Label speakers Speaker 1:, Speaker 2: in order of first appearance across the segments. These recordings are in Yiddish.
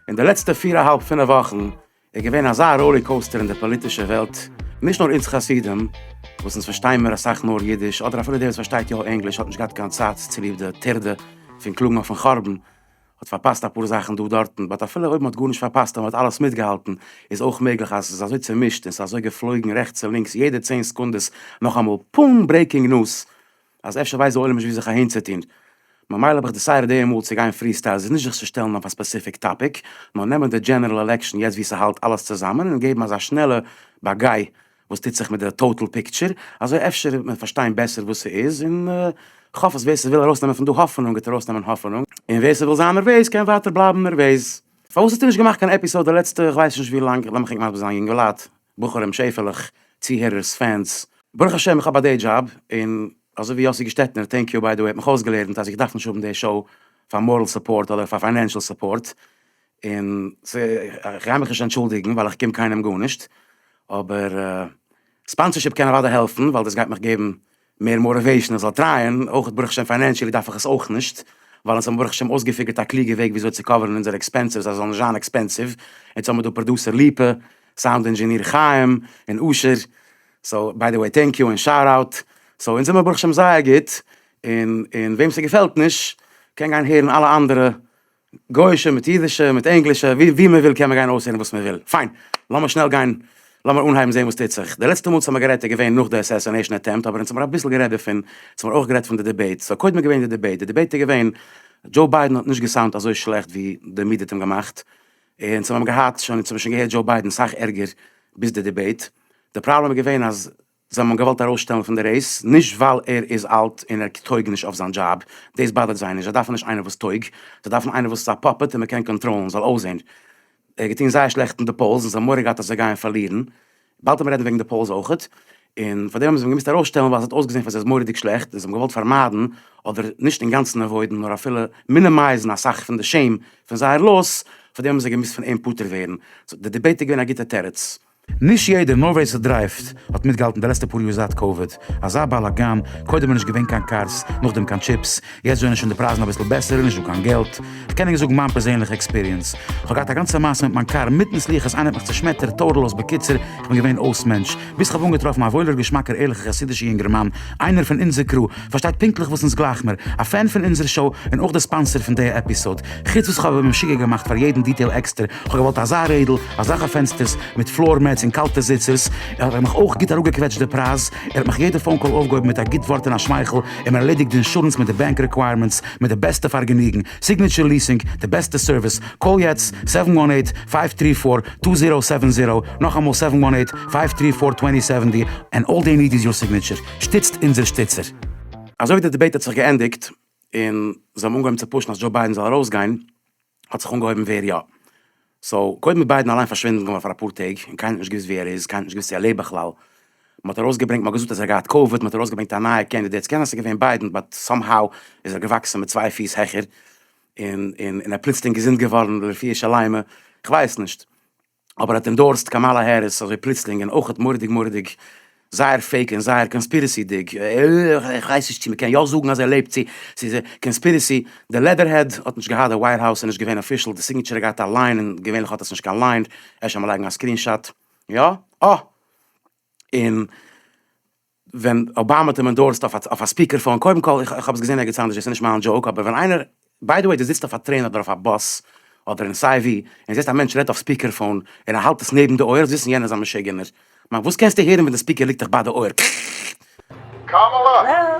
Speaker 1: אין די לעצטע פיר א האלב פינף וואכן איז געווען אזא ראלי קאוסטער אין די פאליטישע וועלט, נישט נאר אונז חסידים וואס אונז פארשטיין מיר אסאך נאר אידיש, אדער אפילו דער וואס פארשטייט יא ענגליש האט נישט געהאט קיין צייט צוליב די טרדה פון קלאגן אויפן חרבן, האט פארפאסט אפאר זאכן דא דארטן, באט אפילו אויב מען האט גארנישט פארפאסט און מען האט אלעס מיטגעהאלטן, איז אויך מעגליך אז עס איז אזוי צומישט און עס איז אזוי געפלויגן רעכטס און לינקס יעדע צען סעקונדעס נאכאמאל פאום ברעיקינג נוס אז אפשר ווייסט די עולם נישט ווי זיך אהין צו טון, ממילא האב איך דיסיידעד אי ה מאל צו גיין פרי סטייל, ס'איז נישט זיך צו שטעלן אויף א ספעסיפיק טאפיק, נאר נעמען די דזשענערעל עלעקשאן יעצט ווי ס'האלט אלעס צוזאמען און געבן אזא שנעלע באגיי וואס טוט זיך מיט די טאטעל פיקטשער, אזוי אפשר וועט מען פארשטיין בעסער וואס ס'איז, און כ'האף אז ווער ס'וויל ארויסנעמען פון דא האפענונג וועט ארויסנעמען האפענונג, און ווער ס'וויל זיין נערוועז קען ווייטער בלייבן נערוועז. פארוואס האסטו נישט געמאכט קיין עפיסאוד די לעצטע כ'ווייס נישט ווי לאנג, לאמיך ענק מסביר זיין יונגעלייט, בחורים שעפעלעך, צוהערערס, פענס, ברוך השם איך האב א דעי דזשאב, און אזוי ווי יאסי געשטעטנער, טענק יו ביי די וועי, האט מיך אויסגעלערנט אז איך דארף נישט האבן די שאו פאר מארעל סופארט אדער פאר פיינענשעל סופארט, און ס ה איך גיי מיך נישט אנטשולדיגן ווייל איך קום קיינעם גארנישט, אבער ספאנסערשיפ קען אוודאי העלפן ווייל דאס גייט מיך געבן מער מאָטיוועישאן איך זאל טרייען, אויך ברוך השם פיינענשעלי דארף איך עס אויך נישט, ווייל אונז האבן ברוך השם אויסגעפיגערט א קלוגע וועג וויאזוי צו קאווערן אונזערע עקספענסעס אז זיי זאלן נישט זיין עקספענסיוו, יעצט האמיר דא פראדוסער ליפא, סאונד אינדזשעניר חיים, און אשר, סאו ביי די וועי טענק יו און שאוט אוט, סאו אונז זעמער ברוך השם זייער גוט, און און וועם ס'געפעלט נישט קען גיין הערן אלע אנדערע גויאישע מיט אידישע מיט ענגלישע ווי ווי מען וויל קען מען גיין אויסהערן וואס מען וויל, פיין לאמיר שנעל גיין לאמיר אנהייבן זעהן וואס טוט זיך, די לעצטע מאל וואס האמיר גערעדט איז געווען נאך די אסעסינעישן אטעמפט אבער אונז האמיר אביסל גערעדט דערפון, אונז האמיר אויך גערעדט פון די דיבעיט, סאו קודם איז געווען די דיבעיט, די דיבעיט איז געווען דזשאו ביידען האט נישט געסאונד אזוי שלעכט ווי די מידיע האט אים געמאכט, און אונז האמיר געהאט שוין אונז האמיר שוין געהערט דזשאו ביידען סאך ערגער ביז די דיבעיט, די פראבלעם איז געווען אז. זיי האבן אים געוואלט ארויסשטעלן פון די רעיס, נישט ווייל ער איז אלט און ער טויג נישט אויף זיין דזשאב, דאס באדערט זיי נישט, זיי דארפן נישט איינער וואס טויג, זיי דארפן איינער וואס איז א פאפעט און מען קען קאנטראלן, זאל אויסזען. ער האט געטון זייער שלעכט אין די פאולס און זיי האבן מורא געהאט אז זיי גייען פארלירן, באלד האט מען רעדן וועגן די פאולס אויכעט, און פארדעם האבן זיי אים געמוזט ארויסשטעלן ווייל עס האט אויסגעזען פאר זיי מורא'דיג שלעכט, און זיי האבן געוואלט פארמיידן, אדער נישט אינגאנצן עוואוידן נאר אפילו מינימייזן אסאך פון די שעים פון זייער לאס, פארדעם האבן זיי געמוזט פון אים פטור ווערן, סאו די דיבעיט איז געווען א גוטע תירוץ. נישט יעדער, נאר ווער ס'דרייווט, האט מיטגעהאלטן די לעצטע פאר יאר זייט קאוויד. אזא באלאגאן, קודם איז נישט געווען קיין קארס, נאכדעם קיין טשיפס, יעצט זענען שוין די פרייזן אביסל בעסער און נישט דא קיין געלט. כ'קען ענק זאגן מיין פערזענליכע עקספיריענס. כ'האב געהאט א גאנצע מעשה מיט מיין קאר, מיטן סליחות איינער האט מיך צושמעטערט טאטעל-לאז בקיצור, כ'בין געווען אויס מענטש. ביז כ'האב אנגעטראפן א וואוילער געשמאקער ערליכער חסידישער יונגערמאן, איינער פון אונזער קרו, פארשטייט פונקטליך וואס אונז גלייך מיר, א פען פון אונזער שאו און אויך די ספאנסער פון די עפיסאוד, חוץ וואס כהאב אים משוגע געמאכט פאר יעדן דיטעיל עקסטער, כהאב געוואלט אזא רעדל, אזאלכע פענסטערס, מיט פלאר מעטס און קאלטע זיצערס, האט ער מיך אויך גוט אראפגעקוועטשט די פרייז, ער האט מיך יעדע פאון קאל אויפגעהויבן מיט א גוט ווארט און א שמייכל, און מען ערלעדיגט די אינשורענס מיט די בענק רעקווייערמענטס מיט די בעסטע פארגעניגן, סיגניטשער ליסינג, די בעסטע סערוויס, קאל יעצט, סעווען וואן עיט, פייוו טרי פאר, טו זירא סעווען זירא, נאכאמאל סעווען וואן עיט, פייוו טרי פאר, טווענטי סעווענטי, ענד אלל דעי ניד איז יור סיגניטשער. שטיצט אונזער שטיצער. אזויווי די דיבעיט האט זיך געענדיגט און זיי האבן אנגעהויבן צו פושן אז דזשאו ביידן זאל ארויסגיין האט זיך אנגעהויבן ווער יא. סאו קודם איז ביידן אליין פארשווינדן געווארן פאר אפאר טעג און קיינער האט נישט געוויסט ווי ער איז קיינער האט נישט געוויסט צו ער לעבט בכלל מען האט ארויסגעברענגט מען האט געזאגט אז ער האט געהאט קאוויד מען האט ארויסגעברענגט א נייע קענדידעט סקען אז סאיז געווען ביידן באט סאם האו איז ער געוואקסן מיט צוויי פיס העכער און און און ער פלוצלינג געזונט געווארן לפי איש הלימה כווייס נישט. אבער האט אינדארסט קאמאלא העריס אזוי פלוצלינג און אויכעט מורא'דיג מורא'דיג זייער פעיק און זייער קאנספירעסי'דיג, איך ווייס נישט צו מ'קען יא זאגן אז ער לעבט צו ס'איז א קאנספירעסי, די לעדערהעד האט נישט געהאט די ווייט האוז איז נישט געווען אפישעל, די סיגניטשער האט געהאט א ליין און געווענליך האט עס נישט קיין ליין, אפשר מ'לייגן א סקרינשאט, יא? אה! און. ווען אבאמא האט אים אינדארסט אויף א ספיקער פאון, קודם כל איך האב עס געזען ערגעץ אנדערש דאס איז נישט מיין דזשאוק, אבער ווען איינער, ביי די וועי דו זיצט אויף א טרעין אדער אויף א באס אדער אין סיי ווי און זעסט א מענטש רעדט אויף ספיקער פאון און ער האלט עס נעבן די אויער זאלסט וויסן יענער איז א משוגענער, מיין וואס קענסטו הערן ווען די ספיקער ליגט דיך ביי די אויער
Speaker 2: קאמאלא!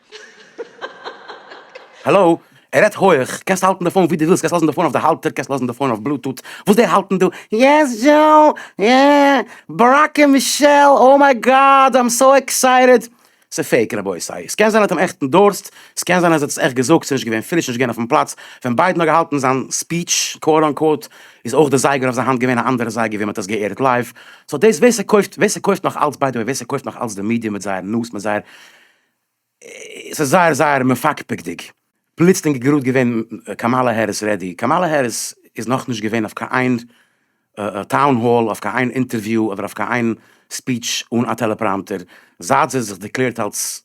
Speaker 1: העלא, ער רעדט הויעך, קענסט האלטן די פאון ווי דו ווילסט, קענסט לאזן די פאון אויף די האלטער, קענסט לאזן די פאון אויף בלוטוט, וואס זיי האלטן דא, יעס דזשאו, יעס, באראק און מישעל, אוי מיי גאד, איים סאו עקסייטעד. ס'איז פעיק רבותי, ס'קען זיין ער האט אים עכט אינדארסט, ס'קען זיין אז ער האט עס עכט געזאגט, ס'איז נישט געווען פריש, נישט געווען אויפן פלאץ ווען ביידן האט געהאלטן זיין ספיטש, קוואוט אנקוואוט, איז אויך די זייגער אויף זיין האנט געווען א אנדערע זייגער ווי מ'האט עס גע'עירט לייוו, סאו דאס ווער ס'קויפט, ווער ס'קויפט נאך אלץ ביי די וועי, ווער ס'קויפט נאך אלץ די מידיע מיט זייער נאז, מיט זייער. עס איז זייער זייער מפקפק'דיג, פלוצלינג גראד געווען קאמאלע העריס רעדי, קאמאלע העריס איז נאכנישט געווען אויף קיין איין טאון האל, אויף קיין איין אינטערוויו, אדער אויף קיין איין ספיטש אן א טעלעפראמטער, זייט זי האט זיך דערקלערט אלס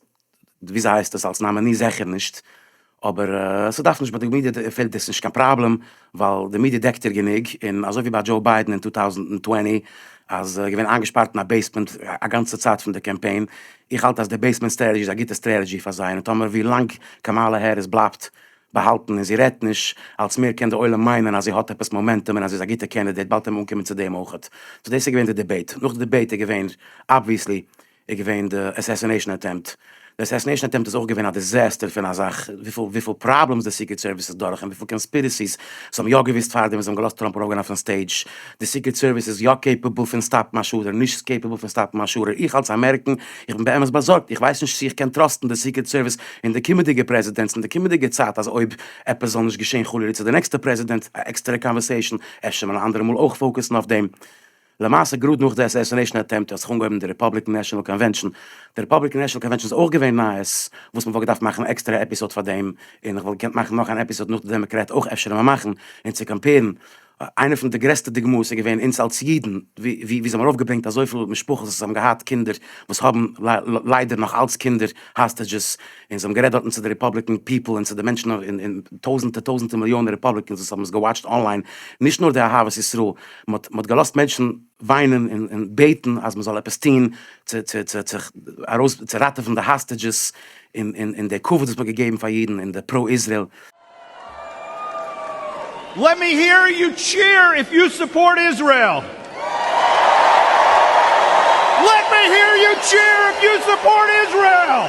Speaker 1: ווי אזוי הייסט עס אלס נאמעני זעכער נישט. אבער ס'דארף נישט, ביי די מידיע פעלט דאס נישט קיין פראבלעם, ווייל די מידיע דעקט איר גענוג, און אזוי ווי ביי דזשאו ביידען אין טו טאוזנט און טווענטי, אז ער איז געווען איינגעשפארט אין א בעיסמענט א גאנצע צייט פון די קאמפיין, איך האלט אז די בעיסמענט סטרעטעזשי איז א גוטע סטרעטעזשי פאר זיי, און טאמער ווי לאנג קאמאלע העריס בלייבט באהאלטן און זי רעדט נישט, אלץ מער קען די עולם מיינען אז זי האט עפעס מאמענטום און אז זי איז א גוטע קענדידעיט, באלד קען מען אנקומען צו דעם אויכעט. סאו דאס איז געווען די דיבעיט. נאך די דיבעיט איז געווען אבוויעסלי. איז געווען די אסעסינעישן אטעמפט. די אסעסינעישן אטעמפט איז אויך געווען א דיזעסטער פון א זאך, וויפיל וויפיל פראבלעמס די סיקרעט סערוויס איז דורך און וויפיל קאנספירעסיס זיי האבן יא געוויסט פארדעם ווען זיי האבן געלאזט טראמפ ארויפגיין אויפן סטעידזש. די סיקרעט סערוויס איז יא קעיפעבל פון סטאפן א שארער, נישט קעיפעבל פון סטאפן א שארער. איך אלס א אמעריקן, איך בין באמת באזארגט, איך ווייס נישט צו איך קען טראסטן די סיקרעט סערוויס אין די קומענדיגע פרעזידענטס אין די קומענדיגע צייט אז אויב עפעס זאל נישט געשען חלילה צו די נעקסטע פרעזידענט, א עקסטערע קאנווערסעישן, אפשר מען אנדערע מאל אויך פאוקעסן אויף דעם. למעשה גראד נאך די אסעסינעישן אטעמפט האט זיך אנגעהויבן די ריפאבליקען נעשאנעל קאנווענשאן, די ריפאבליקען נעשאנעל קאנווענשאן איז אויך געווען נייעס, וואס מ'וואלט געדארפט מאכן עקסטערע עפיסאד פאר דעם, און איך וואלט געקענט מאכן נאך אן עפיסאד נאך די דעמעקרעט אויך אפשר ווען מאכן, און צו קאמפערן, איינע פון די גרעסטע דוגמאות איז געווען אונז אלס אידן, ווי ווי זיי האבן ארויפגעברענגט אזויפיל משפחות וואס האבן געהאט קינדער וואס האבן ליידער נאך אלס קינדער האסטעדזשעס, און זיי האבן גערעדט דארטן צו די ריפאבליקען פיפל און צו די מענטשן און טויזענטער טויזענטער מיליאנען ריפאבליקענס וואס האבן עס געוואטשט אנליין, נישט נאר די אהבת ישראל. מען האט געלאזט מענטשן וויינען און בעטן אז מען זאל עפעס טון צו ראטעווען די האסטעדזשעס און די כבוד וואס מען האט געגעבן פאר אידן
Speaker 3: און די פרא איזרעיל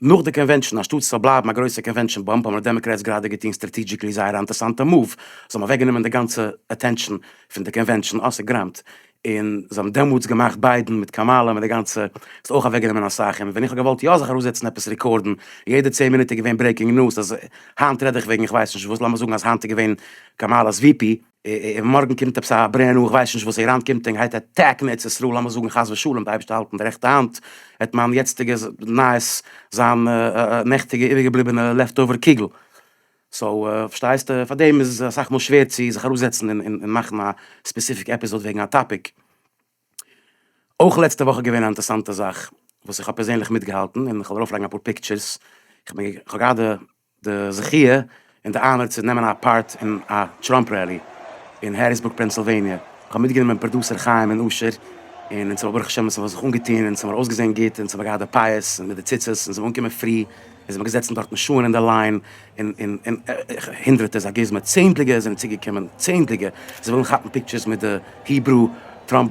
Speaker 1: נאך די קאנווענשאן, אנשטאט עס זאל בלייבן א גרויסע קאנווענשאן באמפ, האבן די דעמאקרעטס גראדע געטון סטראטעדזשיקלי זייער א אינטערסאנטע מאוו, זיי האבן אוועקגענומען די גאנצע אטענשאן פון די קאנווענשאן, אויסעגריימט, און זיי האבן דעמאלטס געמאכט ביידען מיט קאמאלא מיט די גאנצע, ס'האט אויך אוועקגענומען אסאך, און ווען איך האב געוואלט יא זיך ארויסזעצן עפעס רעקארדן, יעדע צען מינוט איז געווען ברעיקינג ניוז אז היינט רעד איך וועגן איך ווייס נישט וואס, לאמיר זאגן אז היינט איז געווען קאמאלא'ס ווי פי. און מארגן קומט עפעס א ברען ניו, איך ווייס נישט וואס, איראן קומט און גייט עטעקן ארץ ישראל, לאמיר זאגן חס ושלום, די אייבערשטער האלט אין די רעכטע האנט וועט מיין יעצטיגע נייעס זיין נעכטיגע איבערגעבליבענע לעפט אווער קוגל, סאו פארשטייסטע פאר דעם איז אסאך מאל שווער צו זיך אראפזעצן און מאכן א ספעסיפיק עפיזאד וועגן א טאפיק. אויך לעצטע וואך איז געווען א אינטערסאנטע זאך וואס איך האב פערזענליך מיטגעהאלטן און איך וועל ארויפלייגן אפאר פיקטשערס, איך האב גראדע די זכיה און די אנער צו נעמען א פארט אין א טראמפ רעלי אין העריסבורג פענסילוועניע, איך האב מיטגענומען פראדוסער חיים און אשר, און אונז האבן ברוך השם אונז האבן זיך אנגעטון און אונז האבן אויסגעזען גוט און אונז האבן געהאט די פאות מיט די ציצות אונז זעמיר אנגעקומען פרי און זעמיר געזעצן דארטן שעהן אין די ליין און און און הונדרעטע איז א גוזמא צענדליגע זענען צוגעקומען צענדליגע זיי ווילן כאפן פיקטשערס מיט די היברו טראמפ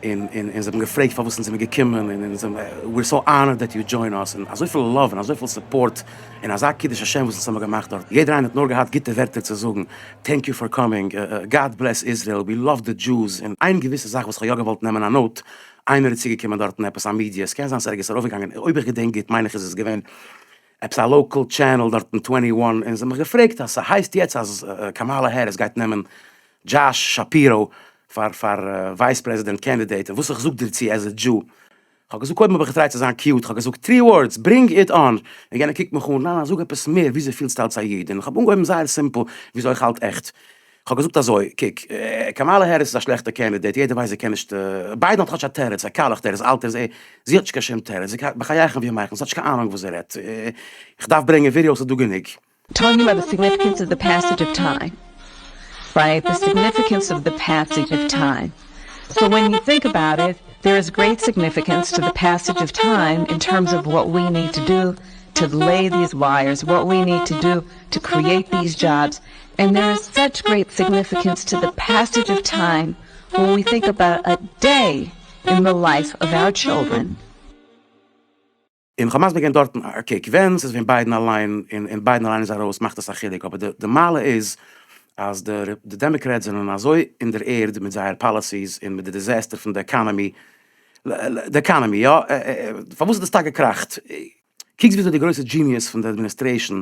Speaker 1: און און און זיי האבן געפרעגט פארוואס אונז זעמיר געקומען און אונז זעמיר ווי אר סאו אנערד דעט יו דזשוין אס און אזויפיל לאוו און אזויפיל סופארט און אזא קידוש השם וואס אונז האמיר געמאכט דארט יעדער איינער האט נאר געהאט גוטע ווערטער צו זאגן טענק יו פאר קאמינג גאד בלעס איזרעיל ווי לאוו די דזשוס און איין געוויסע זאך וואס כ'האב יא געוואלט נעמען א נאוט איינער איז צוגעקומען דארטן עפעס א מידיע עס קען זיין ס'איז ערגעץ ארויפגעגאנגען אויב איך געדענק גוט מיין איך איז עס געווען עפעס א לאקעל טשענעל דארט אין טווענטי וואן און זיי האבן מיך געפרעגט אז ס'הייסט יעצט אז קאמאלא העריס גייט נעמען דזשאש שאפיראו פאר פאר ווייס פרעזידענט קענדידעיט און וואס איך זאג דערצו עז א דזשו, כ'האב געזאגט קודם האב איך געטרייט צו זיין קיוט כ'האב געזאגט טרי ווארדס ברינג איט אן און יענער קוקט מיך אן ניין ניין זאג עפעס מער וויאזוי פילסטו אלץ א איד און כ'האב אנגעהויבן זייער סימפל וויאזוי איך האלט עכט. כ'האב געזאגט אזוי, קוק, קאמאלע העריס איז א שלעכטע קענדידעיט, יעדער ווייסט זי קען נישט, ביידען האט כאטש א תירוץ, א קאלעך תירוץ, אלטער איז ער, זי האט נישט קיין שום תירוץ, זי קען, בחייכם ווי מייכלס, האט נישט קיין אהנונג וואס זי רעדט, כ'דארף ברענגען ווידיאוס איז דא גענוג. טאלקינג אבאוט די
Speaker 4: סיגניפיקענס אוו די פעסעדזש אוו טיים, רייט, די סיגניפיקענס אוו די פעסעדזש אוו טיים, סאו ווען יו טינק אבאוט איט, דער איז גרעיט סיגניפיקענס טו די פעסעדזש אוו טיים אין טערמס אוו וואט ווי ניד טו דא טו לעי דיס ווייערס, וואט ווי ניד טו דא טו קריעיט דיס דזשאבס, ענד דער איז סאטש גרעיט סיגניפיקענס טו דע פעסעדזש אוו טיים ווען ווי טינק אבאוט א דעי אין דע לייף אוו אווער טשילדרען.
Speaker 1: און כ'האב מסביר געווען דארטן א קוק ווען ס'איז ווען ביידן אליין און און ביידן אליין איז ארויס מאכט עס א חילוק אבער די די מעלה איז אז די די דעמעקרעטס זענען אזוי אין דער ערד מיט זייער פאלעסיס און מיט די דיזעסטער פון די עקאנעמי די עקאנעמי יא פארוואס האט עס טאקע געקראכט קוקסט וויאזוי די גרויסע דזשיניעס פון די אדמיניסטרעישן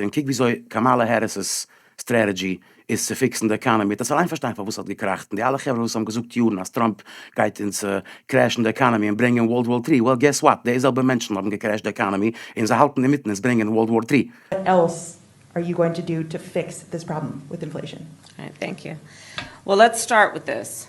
Speaker 5: און קוק וויאזוי קאמאלע
Speaker 1: העריס'ס סטרעטעדזשי איז צו פיקסן די עקאנעמי, האט עס אליין פארשטיין פארוואס ס'האט געקראכט, און די אלע חברה וואס האבן געזאגט יארן אז טראמפ גייט אונז קרעשן די עקאנעמי און ברענגען ווארלד וואר טרי, well געס וואט, די זעלבע מענטשן האבן געקרעשט די עקאנעמי און זיי האלטן אינמיטן אונז ברענגען ווארלד וואר טרי. וואט עלס
Speaker 6: אר יו גאוינג טו דו טו פיקס דיס פראבלעם וויט אינפלעישאן? טענק יו.
Speaker 7: וועל לעטס סטארט וויט דיס.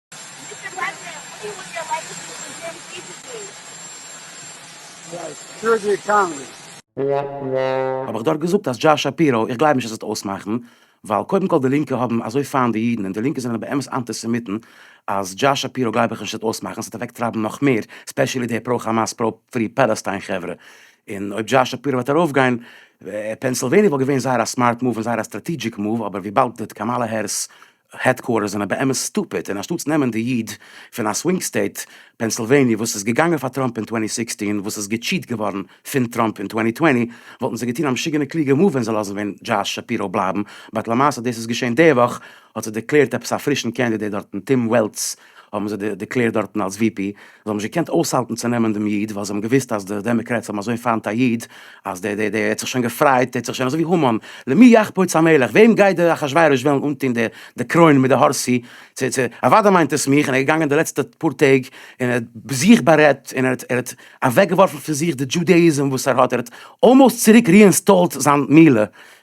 Speaker 7: מיסטער
Speaker 8: וואגנער, וואט דו וואנט די עלעקשאן איז די זעם
Speaker 9: פיזיקלי.
Speaker 1: האב איך דארט געזאגט אז דזשארזש שאפיראו, איך גלייב נישט אז עס וועט אויסמאכן, ווייל קודם כל די לינקע האבן אזוי פיינט די אידן און די לינקע זענען באמת אנטיסעמיטן, אז דזשארזש שאפיראו גלייב איך נישט עס וועט אויסמאכן, עס וועט אוועק טרייבן נאך מער, ספעשעלי די פרא כאמאס פרא פרי פאלעסטיין חברה, און אויב דזשארזש שאפיראו וועט ארויף גיין, פענסילוועניע וואלט געווען זייער א סמארט מאוו און זייער א סטראטידזשיק מאוו, אבער וויבאלד די קאמאלע הערס העדקוארטערס זענען באמת סטופיד און אנשטאטס נעמען די איד פון א סווינג סטעיט פענסילוועניע וואס איז געגאנגען פאר טראמפ אין טווענטי סיקסטין וואס איז געטשיעט געווארן פון טראמפ אין טווענטי טווענטי וואלטן זיי געטון א משוגענע קלוגע מאוו ווען זיי לאזן ווען דזשאש שפירא בלייבן באט למעשה דאס איז געשען די וואך האט זיך דערקלערט עפעס א פרישן קענדידעט דארטן טים וועלץ האבן זיי דערקלערט דארטן אלס ווי פי, זיי האבן נישט געקענט אויסהאלטן צו נעמען דעם איד, ווייל זיי האבן געוואוסט אז די דעמעקרעטס האבן אזוי פיינט א איד, אז דער דער דער האט זיך שוין געפרייט, דער האט זיך שוין אזוי ווי המן, למי יחפוץ המלך, וועם גייט דער אחשורוש וועלן אנטוהן די די קרוין מיט די האר צו צו צו, אוודאי מיינט עס מיך, און ער איז געגאנגען די לעצטע פאר טעג און ער האט זיך בארעדט און ער האט ער האט אוועקגעווארפן פון זיך די דזשודעאיזם וואס ער האט, ער האט אלמאוסט צוריק ריאינסטאלט זיין מילה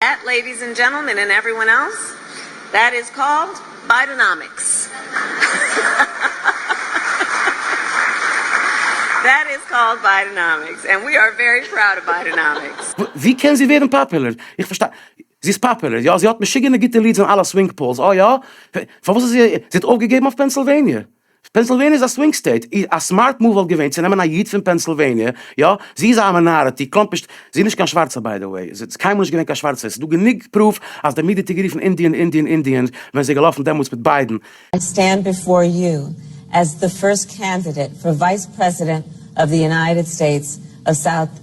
Speaker 7: דעט לעידיס ענד דזשענטלמען ענד עוועריוואן עלס, דעט איז קאלד ביידענאמיקס. דעט איז קאלד ביידענאמיקס ענד ווי אר ווערי פראוד אוו ביידענאמיקס. ווי קען זי ווערן
Speaker 1: פאפולער? איך פארשטיי. זי איז פאפולער, יא. זי האט משוגענע גוטע ליעדס אין אלע סווינג פאולס. אה יא? פארוואס האט זי. זי האט אויפגעגעבן אויף פענסילוועניע? פענסילוועניע איז א סווינג סטעיט, א סמארט מאוו וואלט געווען צו נעמען א איד פון פענסילוועניע, יא, זי איז א מינאריטי, קלאמפ נישט, זי איז נישט קיין שווארצע ביי די וועי, ס'איז קיינמאל נישט געווען קיין שווארצע, ס'איז דא גענוג פרוף אז די מידיע האט איר גערופן אינדיען אינדיען אינדיען ווען זי איז געלאפן דעמאלטס מיט ביידן. I stand
Speaker 7: before you as the first candidate for vice president of the United States of South.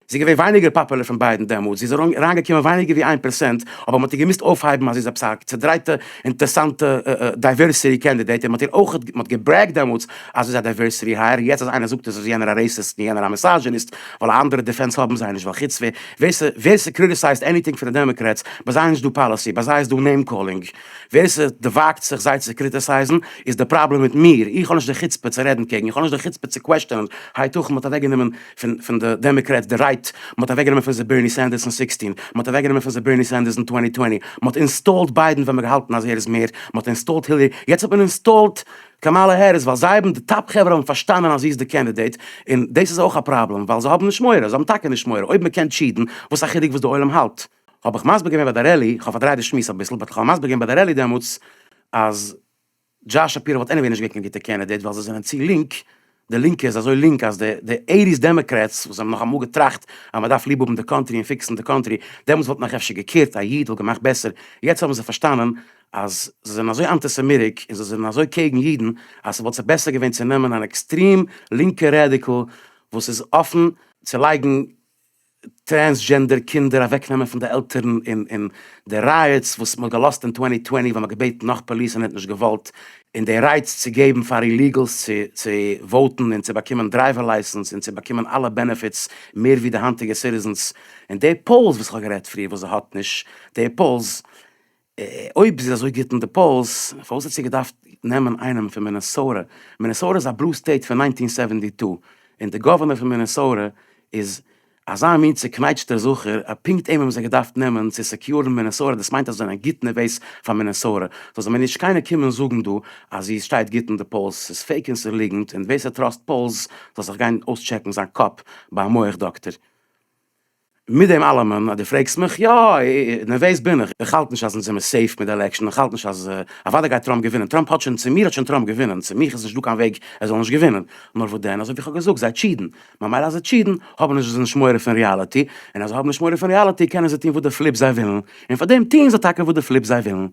Speaker 7: זי איז געווען ווייניגער פאפולער
Speaker 1: פון ביידען דעמאלטס, זי איז אריינגעקומען ווייניגער ווי איין פראצענט, אבער מען האט איר געמוזט אויפהייבן אז זי איז עפעס א צעדרייטע אינטערסאנטע דייווערסיטי קענדידעיט, און מען האט איר אויך, מען האט געברעגט דעמאלטס אז זי איז א דייווערסיטי הייער, יעצט אז איינער זאגט אז איז יענער א רעיסיסט און יענער א מיסאזשיניסט, ווייל א אנדערע דעפענס האבן זיי נישט, ווייל חוץ ווער ס'קריטיסייזד עניטינג פון די דעמאקרעטס, ביי זיי איז נישט דא פאליסי, ביי זיי איז דא נעים קאלינג, ווער ס'וואגט זיך זיי צו קריטיסייזן איז די פראבלעם מיט מיר, איך האב נישט די חוצפה צו רעדן קעגן, איך האב נישט די חוצפה צו קוועשטענען, הייתכן מען האט אוועקגענומען. פון די דעמעקרעטס די רייט, מען האט אוועק גענומען פון זיי בערני סענדערס אין סיקסטין, מען האט אוועק גענומען פון זיי בערני סענדערס אין טווענטי טווענטי, מען האט אינסטאלט ביידן ווען מען געהאלטן אז ער איז מער, מען האט אינסטאלט הילערי, יעצט האט מען אינסטאלט קאמאלע העריס ווייל זיי האבן די טאפ חברה האבן פארשטאנען אז זי איז די קענדידעט, און דאס איז אויך א פראבלעם ווייל זיי האבן נישט מורא, זיי האבן טאקע נישט מורא, אויב מען קען טשיעטן, וואס א חילוק וואס די עולם האלט, האב איך מסביר געווען ביי די רעלי, כ'האב פארדרייט די שמועס אביסל, באט כ'האב מסביר געווען ביי די רעלי דעמאלטס אז. דזשאש שפירא וואלט עניוועי נישט געווען קיין גוטע קענדידעיט ווייל זיי זענען צו לינק, די לינקע איז אזוי לינק אז די די עיטיס דעמעקרעטס וואס האבן נאך אמאל געטראכט אז מ'דארף ליב האבן די קאנטרי און פיקסן די קאנטרי, דעמאלטס וואלט נאך אפשר געקעירט א איד וואלט געמאכט בעסער, יעצט האבן זיי פארשטאנען אז זיי זענען אזוי אנטי סעמיטיק און זיי זענען אזוי קעיגן אידן אז ס'וואלט זיי בעסער געווען צו נעמען אן עקסטרים לינקע רעדיקל וואס איז אפן צו לייגן טרענסדזשענדער קינדער אוועקנעמען פון די עלטערן און די ראיאטס וואס מ'האט געלאזט אין טווענטי טווענטי ווען מ'האט געבעטן נאך פאליס און ער האט נישט געוואלט און די רייטס צו געבן פאר איליגעלס צו צו וואוטן און צו באקומען דרייווער לייסענס און צו באקומען אלע בענעפיטס מער ווי די היינטיגע סיטיזענס און די פאולס וואס כ'האב גערעדט פריער וואס זי האט נישט די פאולס אויב זי איז אזוי גוט אין די פאולס, פארוואס האט זי געדארפט נעמען איינעם פון מינעסאוטע? מינעסאוטע איז א בלו סטעיט פון ניינטין סעווענטי טו, און די גאווערנער פון מינעסאוטע איז אזא מין צוקנייטשטער זכר, אז פונקט אים האבן זיי געדארפט נעמען צו סעקיורן מינעסאוטע, דאס מיינט אז זיי זענען גוט נערוועז פאר מינעסאוטע, זאל זיי מיר נישט קיינער קומען זאגן דא אז זי שטייט גוט אין די פאולס, ס'איז פעיק און ס'איז ליגנט, און ווער ס'טראסט פאולס זאל זיך גיין אויסטשעקן זיין קאפ ביי א מח דאקטער. מיט דעם אלעמען אז דו פרעגסט מיך, יא, נערוועז בין איך, איך האלט נישט אז אונז זעמיר סעיף מיט די עלעקשאן, איך האלט נישט אז, אוודאי גייט טראמפ געווינען, טראמפ האט שוין, צו מיר האט שוין טראמפ געווינען, צו מיך איז נישטא קיין וועג ער זאל נישט געווינען, נאר וואס דען, אזויווי איך האב געזאגט, זיי טשידן, ממילא אז זיי טשידן, האבן נישט זיי נישט מורא פון ריאליטי, און אז זיי האבן נישט מורא פון ריאליטי, קענען זיי טון וואס די פליפ זיי ווילן, און פארדעם טוען זיי טאקע וואס די פליפ זיי ווילן.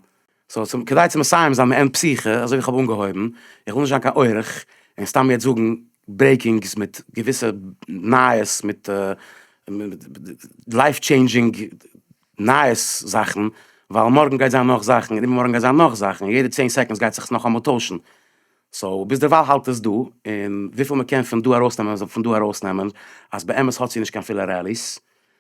Speaker 1: סאו צום כדי צו מסיים זיין מעין פסיכה אזוי ווי כ'האב אנגעהויבן, איך וויל נישט זיין קיין אורח און סתם יעצט זאגן ברעיקינגס מיט געוויסע נייעס מיט לייף טשעינדזשינג נייעס זאכן, ווייל מארגן גייט זיין נאך זאכן און איבערמארגן גייט זיין נאך זאכן און יעדע צען סעקאנדס גייט זיך עס נאכאמאל טוישן, סאו ביזדערווייל האלט עס דא און וויפיל מ'קען פון דא ארויסנעמען זאל פון דא ארויסנעמען אז באמת האט זי נישט קיין פילע ראליס.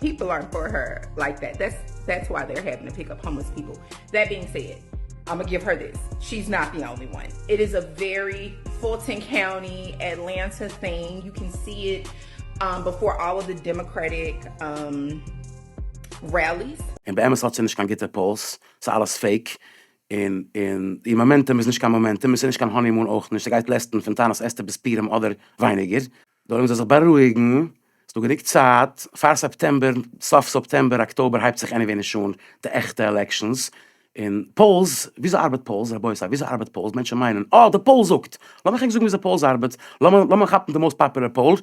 Speaker 9: פיפל ארנט פאר הער לייק דעט, דעטס וואי זיי אר העפען טו פיק אפ האומלעס פיפל, דעט בינג סעד I'ma גיוו הער דיס, שי איז נאט די אנלי וואן, איט איז א ווערי פולטאן קאונטי אטלענטא טינג, יו קען סי איט בעפאר אלל אוו די דעמאקרעטיק רעליס. און באמת האט זי נישט קיין
Speaker 1: גוטע פאולס, ס'איז אלעס פעיק, און און איר מאמענטום איז נישט קיין מאמענטום, און ס'איז נישט קיין האנימון אויך נישט, ס'גייט לעסטן פון טענת אסתר ביז פורים אדער ווייניגער. זאלן זיי זיך בארואיגן, ס'דא גענוג צייט פאר סעפטעמבער, סוף סעפטעמבער אקטאבער הייבט זיך עניוועי נישט אן די עכטע עלעקשאנס, און פאולס, וויאזוי ארבעט פאולס רבותי וויאזוי ארבעט פאולס, מענטשן מיינען אה די פאול זאגט, לאמיך ענק זאגן וויאזוי פאולס ארבעט, לאמיר לאמיר כאפן די מאוסט פאפולער פאול,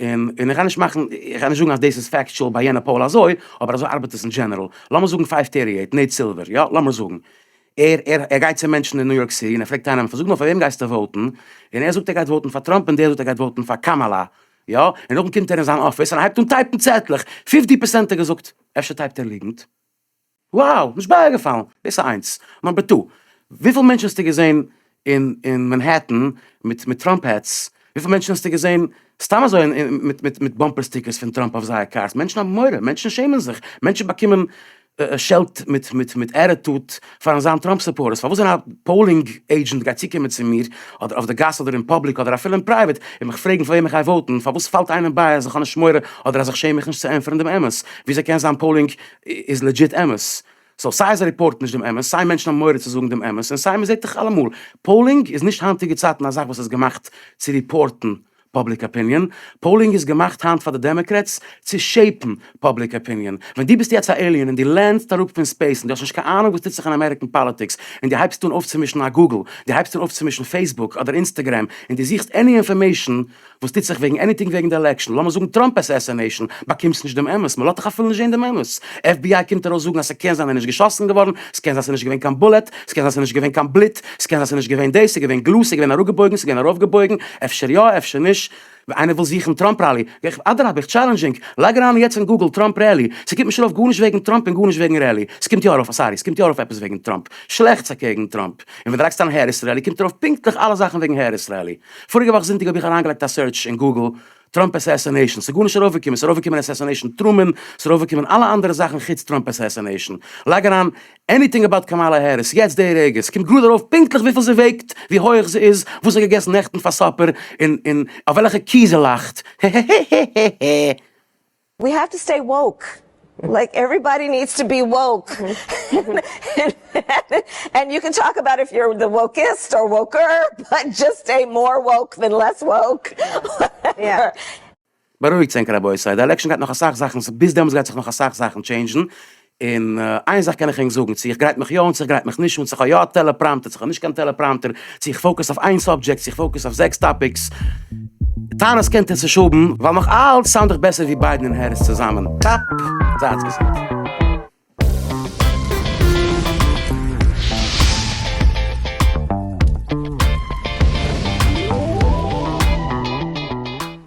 Speaker 1: און און איך גיי נישט מאכן איך גיי נישט זאגן אז דאס איז פעקטשול ביי יענע פאול אזוי, אבער אזוי ארבעט עס אין דזשענעראל, לאמיר זאגן פייוו טערטי עיט נעיט סילווער, יא לאמיר זאגן, ער ער ער גייט צו מענטשן אין ניו יארק סיטי און ער פרעגט איינעם פאר זאג נאר פאר וועם גייסטו וואוטן? און ער זאגט ער גייט וואוטן פאר טראמפ און דער זאגט ער גייט וואוטן פאר קאמאלא יא? און נאכדעם קומט ער אין זיין אפיס און הייבט אן טייפן צעטלעך, פיפטי פערסענט האט געזאגט אפשר טייפט ער ליגנט? wow! נישט בייגעפאלן! דאס איז איינס. נאמבער טו, וויפיל מענטשן האסטו געזען אין אין מאנהעטן מיט מיט טראמפ העטס, וויפיל מענטשן האסטו געזען סתם אזוי מיט מיט מיט באמפער סטיקערס פון טראמפ אויף זייער קארס, מענטשן האבן מורא, מענטשן שעמען זיך, מענטשן באקומען שעלט מיט מיט מיט עטיטוד פארן זיין טראמפ סופארטערס, פארוואס ווען א פאולינג עידזשענט גייט צוקומען צו מיר אדער אויף די גאס אדער אין פאבליק אדער אפילו אין פרייוועט און מיך פרעגן פאר וועם איך גיי וואוטן, פארוואס פאלט איינעם ביי אז איך האב נישט מורא אדער אז איך שעם מיך נישט צו ענטפערן דעם אמת? וויאזוי קען זיין פאולינג איז לעדזשיט אמת? סאו סיי זיי ריפארטן נישט דעם אמת, סיי מענטשן האבן מורא צו זאגן דעם אמת, און סיי מ'זעט דאך אלעמאל, פאולינג איז נישט היינטיגע צייטן א זאך וואס איז געמאכט צו ריפארטן פאבליק אפיניען, פאולינג איז געמאכט היינט פאר די דעמעקרעטס צו שעיפן פאבליק אפיניען. ווען דו ביסט יעצט א עיליען און דו לענדסט אראפ פון ספעיס און דו האסט נישט קיין אהנונג וואס טוט זיך אין אמעריקען פאליטיקס און דו הייבסט אן אויפצומישן א גוגל, דו הייבסט אן אויפצומישן פעיסבוק אדער אינסטעגרעם און דו זוכסט עני אינפארמעישן, וואס טוט זיך וועגן עניטינג וועגן די עלעקשן, לאמיר זאגן טראמפ אסעסענעישן, באקומסט נישט דעם אמת, מען לאזט דיך אפילו נישט זען דעם אמת, עף בי איי קומט ארויס זאגן אז ס'קען זיין ער איז נישט געשאסן געווארן, ס'קען זיין ס'איז נישט געווען קיין בולעט, ס'קען זיין ס'איז נישט געווען קיין בלוט, ס'קען זיין ס'איז נישט געווען דאס, ס'איז געווען גלאז, ס'איז געווען אראפגעבויגן, ס'איז געווען ארויפגעבויגן, אפשר יא אפשר נישט, איינער וויל זוכן טראמפ ראלי, אדרבה איך טשאלענדזשינג, לייג אריין יעצט אין גוגל טראמפ ראלי, ס'קומט נישט ארויף גארנישט וועגן טראמפ און גארנישט וועגן ראלי, ס'קומט יא ארויף, סארי, ס'קומט יא ארויף עפעס וועגן טראמפ, שלעכטס אקעגן טראמפ, און ווען דו לייגסט אריין העריס ראלי קומט ארויף פונקטליך אלע זאכן וועגן העריס ראלי. פאריגע וואך זונטאג האב איך אריינגעלייגט א סערטש אין גוגל טראמפ עסעסענעישאן ס'איז גארנישט ארויפגעקומען ס'איז ארויפגעקומען עסעסענעישאן טרומען ס'איז ארויפגעקומען אלע אנדערע זאכן חוץ טראמפ עסעסענעישאן לייג אריין עניטינג עבאוט קאמאלא העריס יעצט די רגע ס'קומט גראד ארויף פונקטליך וויפיל זי וועגט ווי הויעך זי איז וואס זי האט געגעסן נעכטן פאר סאפער און און אויף וועלכע קי זי לאכט הע הע
Speaker 10: הע הע הע הע. ווי האו טו סטעי וואוק, לייק עוועריבאדי נידס טו בי וואוק, ענד יו קען טאלק אבאוט איף יור די וואוקיסט אר וואוקער, באט דזשאסט סטעי מאר וואוק דען לעס וואוק,
Speaker 7: וואטעווער.
Speaker 1: בארואיגטס ענק רבותי, די עלעקשאן גייט נאך אסאך זאכן, ביז דעמאלטס גייט זיך נאך אסאך זאכן טשעינדזשן, און איין זאך קען איך ענק זאגן, צו איך גרייט מיך יא אן, צו איך גרייט מיך נישט אן, צו איך האב יא א טעלעפראמטער, צו איך האב נישט קיין טעלעפראמטער, צו איך פאוקעס אויף איין סאבדזשעקט, צו איך פאוקעס אויף זעקס טאפיקס, טענות קענט איר צוש האבן, ווייל נאך אלץ סאונד איך בעסער ווי ביידן און העריס צוזאמען. קאפ! זייטס געזונט.